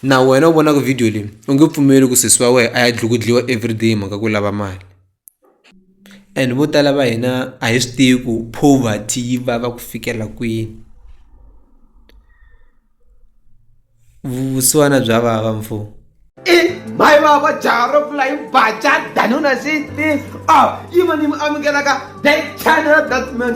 Na wena u vonaka vhidiyo leyi u nge pfumeli ku sesi wa wena a ya dlukudliwa everyday hi mhaka ku lava mali and vo tala va hina a hi swi tivi ku poverty yi vava ku fikela kwini vusiwana bya vava mfo i mhayi vava jaha ro pfula yi baca danuna sixteen a yi va ni mi amukelaka that channel that man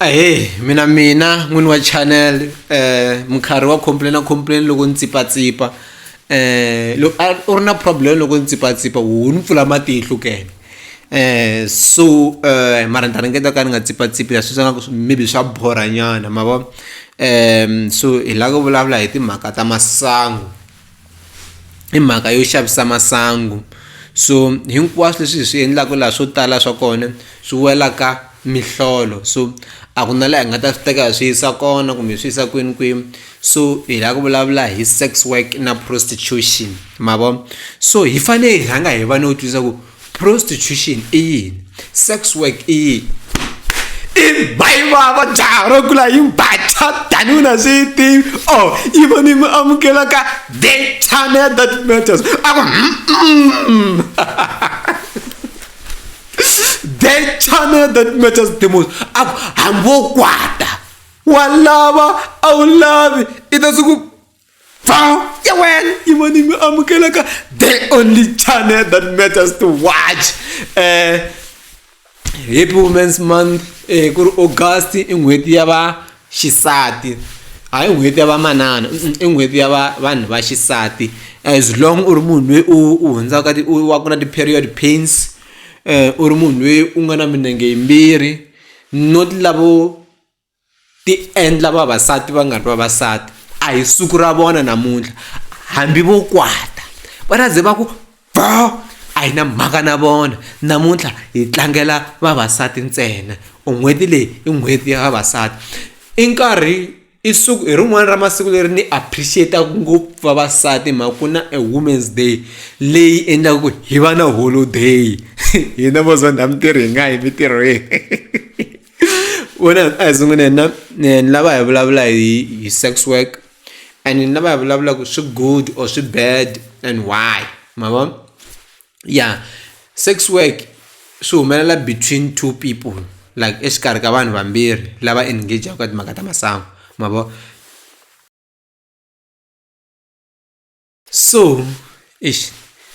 ahee mina mina n'wini wa channel um minkarhi wa complain complain loko ni tsipatsipa um loko a u ri na problem loko ni tsipatsipa wu ni pfula matihlo kene um so um mara ni ta ringeta ka ni nga tsipatsipi leswi swi nga ku maybe swa borhanyana ma vo um so hi lava ku vulavula hi timhaka ta masangu i mhaka yo xavisa masangu so hinkwaswo leswi hi swi endlaka laha swo tala swa kona swi wela ka mihlolo so a ku na laha hi nga ta swi teka hi swi yisa kona kumbe hi swi yisa kwini kwini so hi lava ku vulavula hi sex work na prostitution ma vo so hi fanele hi rhanga hi va no twisisa ku. prostitution i yini sex work i yini i bayiwa va jaha ro kula yi bacha tanihi na swi yi tivi o oh, yi va ni mi amukela ka the channel that matters a ku the channel that matters the most a ku hambi wo kwata wa lava a wu lavi i ta swi ku Found ya wena yi vonimi amukelaka the only channel that matters to watch eh happy women's month eh ku ri august i n'hweti ya va xisati hayi n'hweti ya vamanana i n'hweti ya va vanhu va xisati as long u ri munhu loyi u u hundzaka ti u wa ku na ti-period pains u ri munhu loyi u nga na minenge yimbirhi not lavo ti endla vavasati va nga ri vavasati a hi siku ra vona namuntlha hambi vo kwata va ta ze va ku bo a hi na mhaka na vona namuntlha hi tlangela vavasati ntsena or n'hweti leyi i n'hweti ya vavasati i nkarhi i siku hi rin'wana ra masiku leri ni appreciate-taka ngopfu vavasati hi mhaka ku na e women's day leyi endlaka ku hi va na holiday hina vo zonda mintirho hi nga yi mintirhweni. wena a hi sunguleni na ni lava hi vulavula hi hi sex work and ni lava hi vulavula ku swi good or swi bad and why ma vo ya sex work swi humelela between two people like exikarhi ka vanhu vambirhi lava engage ka timhaka ta masangu ma vo So eish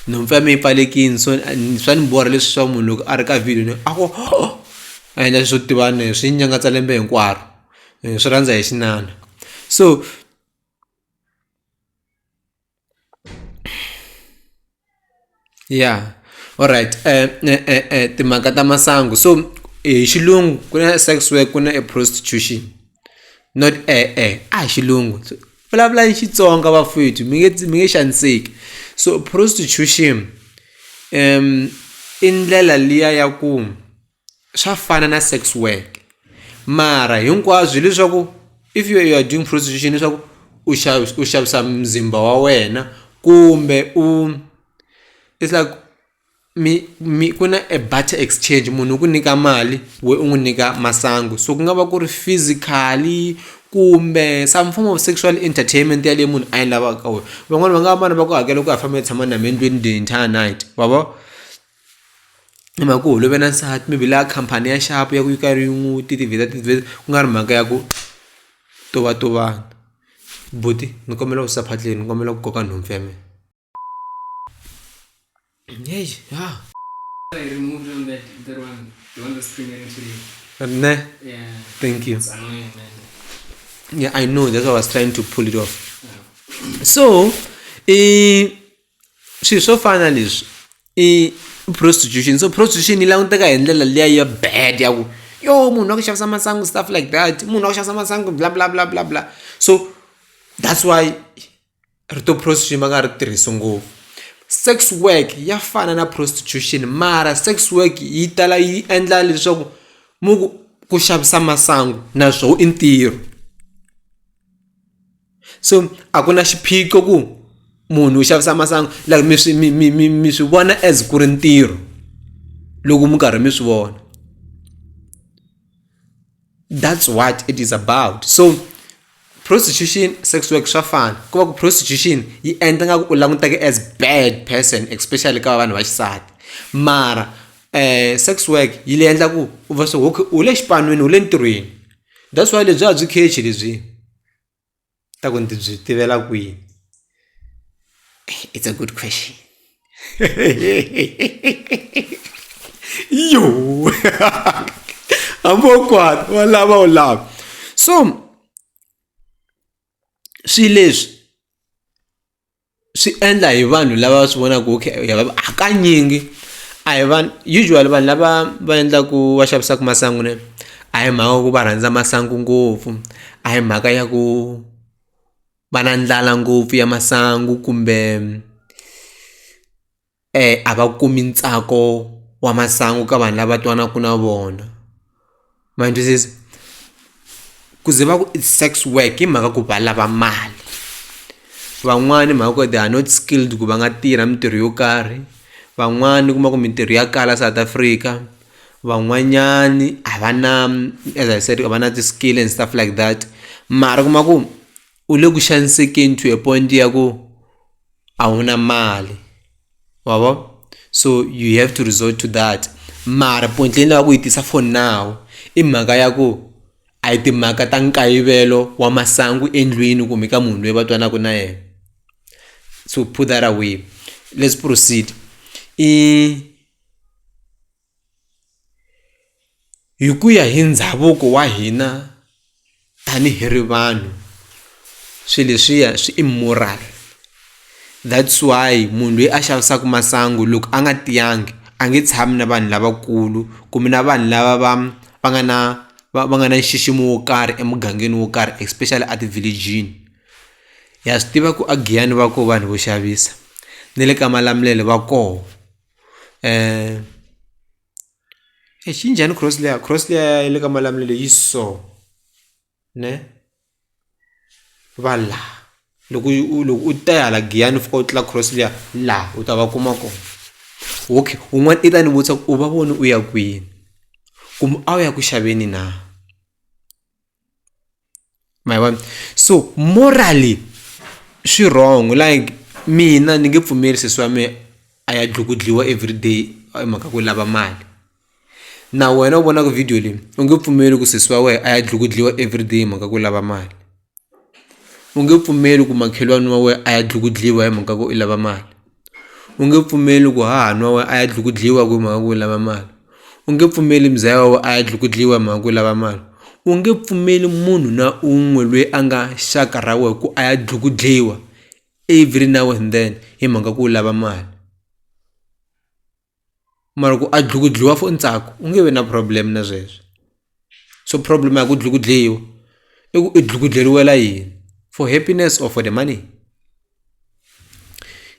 nhompfu ya me yi pfalekini so ni swa ni borha leswi swa munhu loko a ri ka vhidiyo ni a ku a endla swo tivana hi swi nyangatsa lembe hinkwaro hi swi rhandza hi xinana so Yeah alright timhaka ta masangu so hi xilungu ku na sex work ku na e prostitution not e-e a hi xilungu vulavulani Xitsonga vafowethu mi nge mi nge xaniseki so prostitution i ndlela liya ya ku. swa fana na sex work mara hinkwabyo hileswaku if you are doing prostitution leswaku u xavisa u xavisa muzimba wa wena kumbe u it's like mi mi ku na a butter exchange munhu u ku nyika mali we u n'wi nyika masangu so ku nga va ku ri physically kumbe some form of sexual entertainment yaleyo munhu a yi lavaka ka wena van'wani va nga va vana va ku hakela ku ya famba ya tshama na mina endlwini the entire night wa vo. hi mhaka ku holove na nsati maybe la khampani ya nxavo ya ku yi karhi yi n'wi ti ti-visa ti-visa ku nga ri mhaka ya ku tovatovana buti ni kombela ku wisa phatleni ni kombela ku koka nhompfu ya mina ne thank you yeah I know that's why I was trying to pull it off so i swilo swo fana na leswi i prostitution so prostitution yi languteka hi ndlela liya ya bad ya ku yo munhu wa ku xavisa masangu stuff like that munhu wa ku xavisa masangu bla bla bla bla bla so that's why rito prostitution va nga ri tirhisi ngopfu sex work ya fana na prostitution mara sex work yi tala yi endla leswaku mu ku ku xavisa masangu naswona i ntirho. so a ku na xiphiqo ku munhu u xavisa masangu like mi swi mi mi mi mi swi vona as ku ri ntirho loko mi karhi mi swi vona that's what it is about so prostitution sex work swa fana ku va ku prostitution yi endla nga ku u languteke as bad person especially ka vanhu va xisati mara um sex work yi le endla ku u va swi okay u le xipan'weni u le ntirhweni that's why lebyi a byi khechi lebyi ta ku ndzi byi tivela kwihi it's a good question yo ambokwana wa lava u lava so swi leswi swi endla hi vanhu lava va swi vonaka okay hakanyingi a hi vanhu usually vanhu lava va endlaku va xavisaka masangu ne a hi mhaka ya ku va rhandza masangu ngopfu a hi mhaka ya ku va na ndlala ngopfu ya masangu kumbe. a va kumi ntsako wa masangu ka vanhu lava twanaka na vona ma ni twisisa ku ze va ku i sex work hi mhaka ku va lava mali van'wani hi mhaka ku they are not skilled ku va nga tirha mintirho yo karhi van'wani u kuma ku mintirho ya kala South Africa van'wanyani a va na as I said a va na ti-skill and stuff like that mara u kuma ku u le ku xanisekeni to a point ya ku. a wu na mali wa vo so you have to resort to that mara point leyi ni lava ku yi tisa for now i mhaka ya ku a hi timhaka ta nkayivelo wa masangu endlwini kumbe ka munhu loyi va twanaka na yena so put that away let's proceed i hi ku ya hi ndhavuko wa hina tanihi ri vanhu swi leswiya swi immoral that's why munhu loyi a xavisaka masangu loko a nga tiyangi a nge tshami na vanhu lavakulu kumbe na vanhu lava va va nga na va va nga na nxiximo wo karhi emugangeni wo karhi especially a ti-village-ini ha swi tiva ku a Giyani va koho vanhu vo xavisa ne le ka Malamulele va koho. eish yi njhani cross layer cross layer ya le ka malamulelo yi so ne va la loko yi u loko u ta hala giyani u fika u tlula cross layer la u ta va kuma kona okay un'wana i ta ni vutisa ku u va voni u ya kwini kumbe a wu ya ku xaveni na. ma yi vona so morally swi wrong like mina ni nge pfumeli sesi wa mehe a ya dlukudliwa everyday hi mhaka ku lava mali na wena u vonaka video leyi u nge pfumeli ku sesi wa wena a ya dlukudliwa everyday hi mhaka ku lava mali u nge pfumeli ku makhelwani wa wena a ya dlukudliwa hi mhaka ku i lava mali. U nge pfumeli ku hahanwa wa a ya dlukudliwa ku mhaka ku lava mali. U nge pfumeli muzaya wa a ya dlukudliwa hi mhaka ku lava mali. U nge pfumeli munhu na un'we loyi a nga xaka ra wena ku a ya dlukudliwa every now and then hi mhaka ku u lava mali. mara ku a dlukudliwa for ntsako u nge vi na problem na sweswo so problem ya ku dlukudliwa i ku i dlukudleriwela yini for happiness or for the money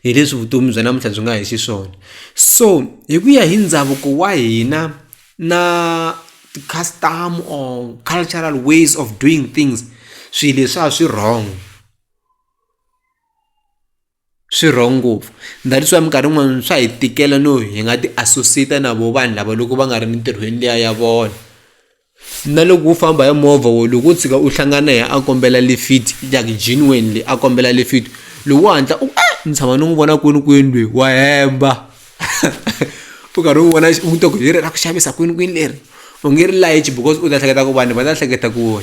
hi leswi vutomi bya namuntlha byi nga hi xiswona so hi ku ya hi ndhavuko wa hina na ti-custom or cultural ways of doing things swilo leswi a swi wrong swi wrong ngopfu that is why minkarhi yin'wani swa hi tikela no hi nga ti associate na vo vanhu lava loko va nga ri mintirhweni liya ya vona na loko wo famba hi movha wo loko u tshika u hlangana hi a kombela lifit like genuinely a kombela lifit loko wo hatla u eh ni tshama ni n'wi vona kwini kwini lweyi wa hemba u karhi u vona u to ku hi ri ra ku xavisa kwini kwini leri u nge ri layichi because u ta hleketa ku vanhu va ta hleketa ku .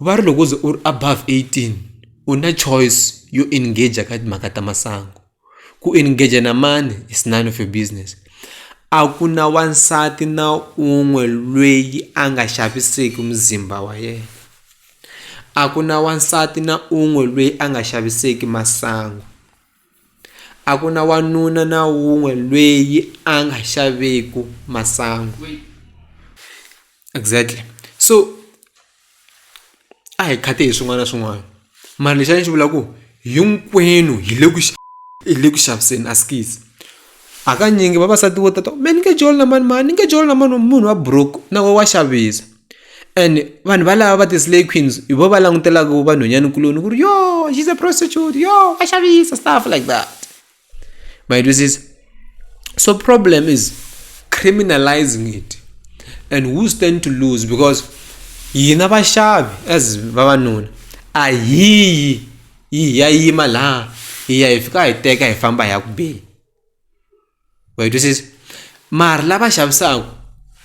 va ri loko u ze u ri above eighteen u na choice yo engage-a ka timhaka ta masangu ku engage-a na mani is none of your business a ku na wansati na un'we lweyi a nga xaviseki muzimba wa yena a ku na wansati na un'we lweyi a nga xaviseki masangu. A ku na wanuna na wun'we lweyi a nga xaveku masangu exactly so a hi khati hi swin'wana na swin'wana mara lexi a ni xi vula ku hinkwenu hi le ku hi le ku xaviseni a skies. Hakanyingi vavasati vo tata me ni nge joli na mani mani ni nge joli na mani munhu wa buruku na wo wa xavisa and vanhu valava va ti-slay queens hi vo va langutelaka va nhwanyanikuloni ku ri yo she's a prostitute yo wa xavisa stuff like that ma yi twisisa so problem is criminalizing it and who stand to lose because hina vaxavi as vavanuna a hiyi yi ya yima laha hi ya hi fika hi teka hi famba hi ya ku beni wa yi twisisa mara lava xavisaka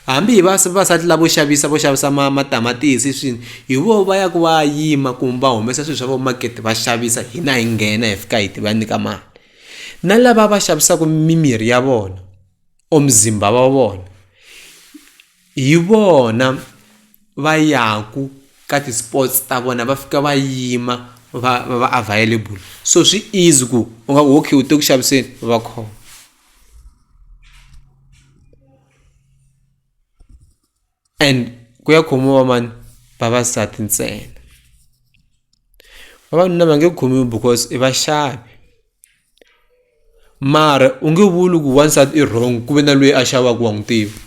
hambi hi va vavasati lavo xavisa vo xavisa ma matamatisi swini hi vo va ya ku va yima kumbe va humesa swilo swa vo makete va xavisa hina hi nghena hi fika hi ti va nyika mali na lava va xavisaka mimirhi ya vona or muzimba wa vona hi vona va yaku ka ti-sports ta vona va fika va yima va va va available so swi easy ku u nga ku okay u te ku xaviseni va khoma and ku ya khomiwa mani vavasati ntsena vavanuna va nge khomiwi because i vaxavi mara u nge vuli ku wansati i wrong ku ve na loyi a xavaka wa n'wi tiva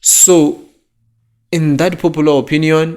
so in that popular opinion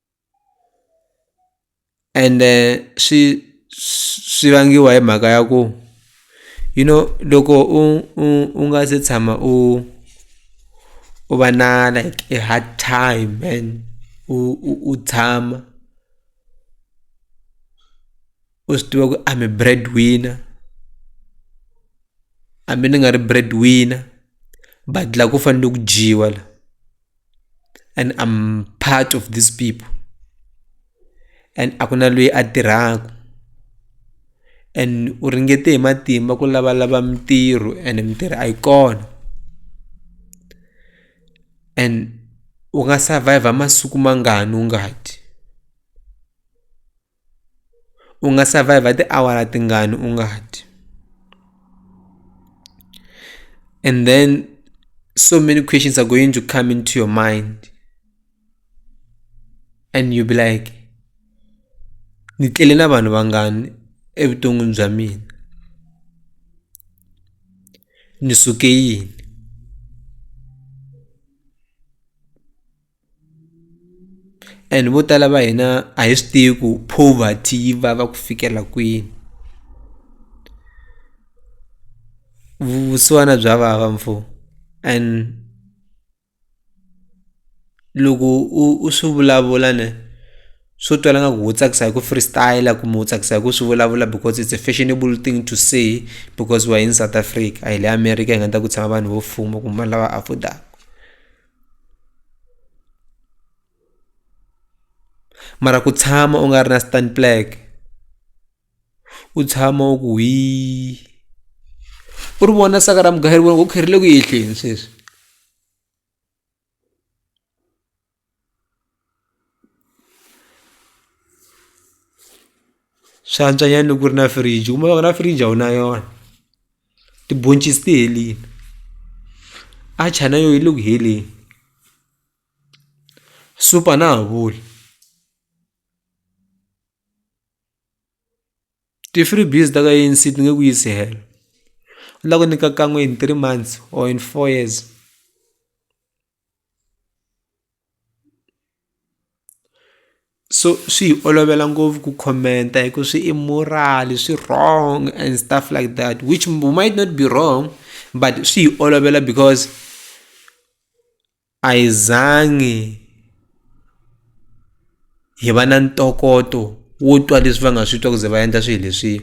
ende swi swi vangiwa hi mhaka ya ku you know loko u u u nga se tshama u u va na like a hard time and u u u tshama u swi tiva ku i am a bread winner hambi ni nga ri bread winner but la ku fanele ku dyiwa la. and I'm part of these people and a ku na loyi a tirhaka and u ringete hi matimba ku lavalava mintirho and mintirho a yi kona and u nga survive masiku mangani u nga dyi u nga survive tiawara tingani u nga dyi and then so many questions are going to come into your mind and you be like ni tlele na vanhu vangani evuton'wini bya mina ni suke yini and vo tala va hina a hi swi tivi ku poverty yi vava ku fikela kwini vusiwana bya vava mfo and loko u u swi vulavula ne swo twala nga ku wo tsakisa hi ku freestyle kumbe wo tsakisa hi ku swi vulavula because it's a fashionable thing to say because we're in south africa a hi le america hi nga ta ku tshama vanhu vo fuma kumbe vanhu lava affordaka mara ku tshama u nga ri na stand black u tshama u ku hi u ri vona saka ra mugayeri vona ku kherile ku yehleni sweswi swi antswa nyana loko ku ri na fridge kumbe loko na fridge a wu na yona tibhoncisi ti helini atchar na yoho yi le ku heleni soup a na ha vuli ti-free biz ta ka A_N_C ti nge ku yisi helo u la ku nyika kan'we in three months or in four years. so swi hi olovela ngopfu ku comment-a hi ku swi immoral swi wrong and stuff like that which we might not be wrong but swi hi olovela because a hi zangi hi va na ntokoto wo twa leswi va nga swi twa ku ze va endla swilo leswiya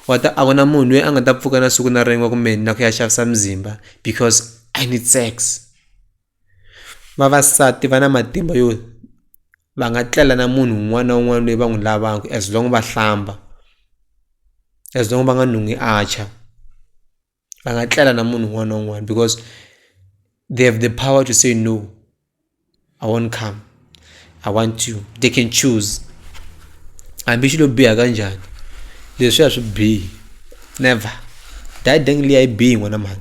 wa ta a ku na munhu loyi a nga ta pfuka na siku na rin'we kumbe na ku ya xavisa muzimba because i need sex vavasati va na matimba yo va nga tlela na munhu un'wana na un'wana loyi va n'wi lavaka as long va hlamba as long va nga nungi a tshwa. va nga tlela na munhu un'wana na un'wana because they have the power to say no i won't come i want you they can choose hambi xilo biha kanjhani leswi a swi bihi never dayideng liya yi bihi n'wana mhani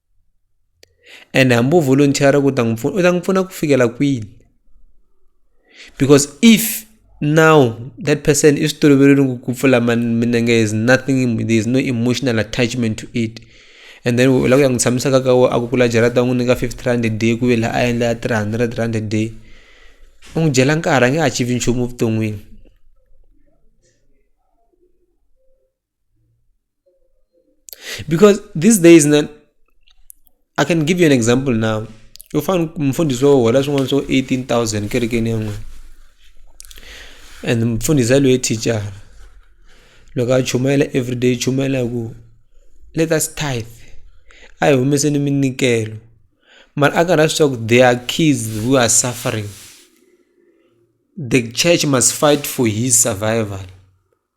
and hambi u volunteer ku ta n'wi pfuna u ta n'wi pfuna ku fikela kwini because if now that person is toloverile ku pfula minenge is nothing there is no emotional attachment to it and then u lava ku ya n'wi tshamisa ka ka a ku kula jarata u n'wi nyika fifty rand a day ku ve laha a endla three hundred rand a day u n'wi dyela nkarhi a nge achieve nchumu evuton'wini because these days na i can give you an example now u fane mfundhisi wo hola swin'wana swo 18000 kerekeni ya n'wina and mfundhisi yaloye thicara loko a chumayela everyday chumayela hi ku let us tithe a hi humeseni minikelo mara a karhi swi swa ku there are kids who are suffering the church must fight for his survival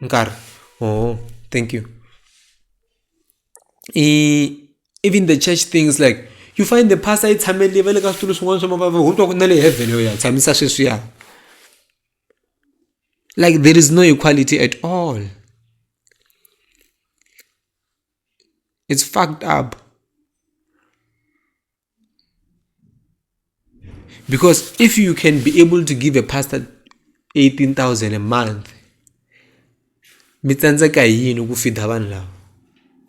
nkarhi ooh thank you i even the church things like you find the pastor yi tshamele va le ka switulu swin'wana swa mavava ho twa ku na le heaven yo ya tshamisa sweswiya like there is no equality at all it's fucked up Because if you can be able to give a pastor 18,000 a month, mi tsandzeka hi yini ku fida vanhu lava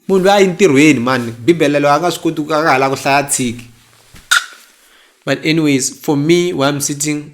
munhu loyi a yi ntirhweni mani bibele loyi a nga swi koti ku a nga ha la ku hlaya tshiki but anyways for me why i'm sitting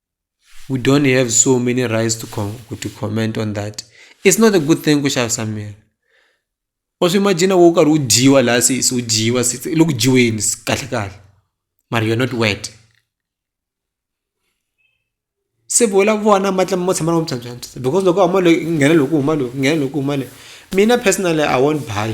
we don't have so many rights to, com to comment on that it's not a good thing kuxavisa miri wa swi imagina wo karhi u dyiwa laha se se u dyiwa se loko dyiweni kahle kahle mara you're not wet se vola vona matla mo tshama loko mtshantshantsha because loko huma loyi nghena loko huma loyi nghena loko huma loyi mina personally i won't buy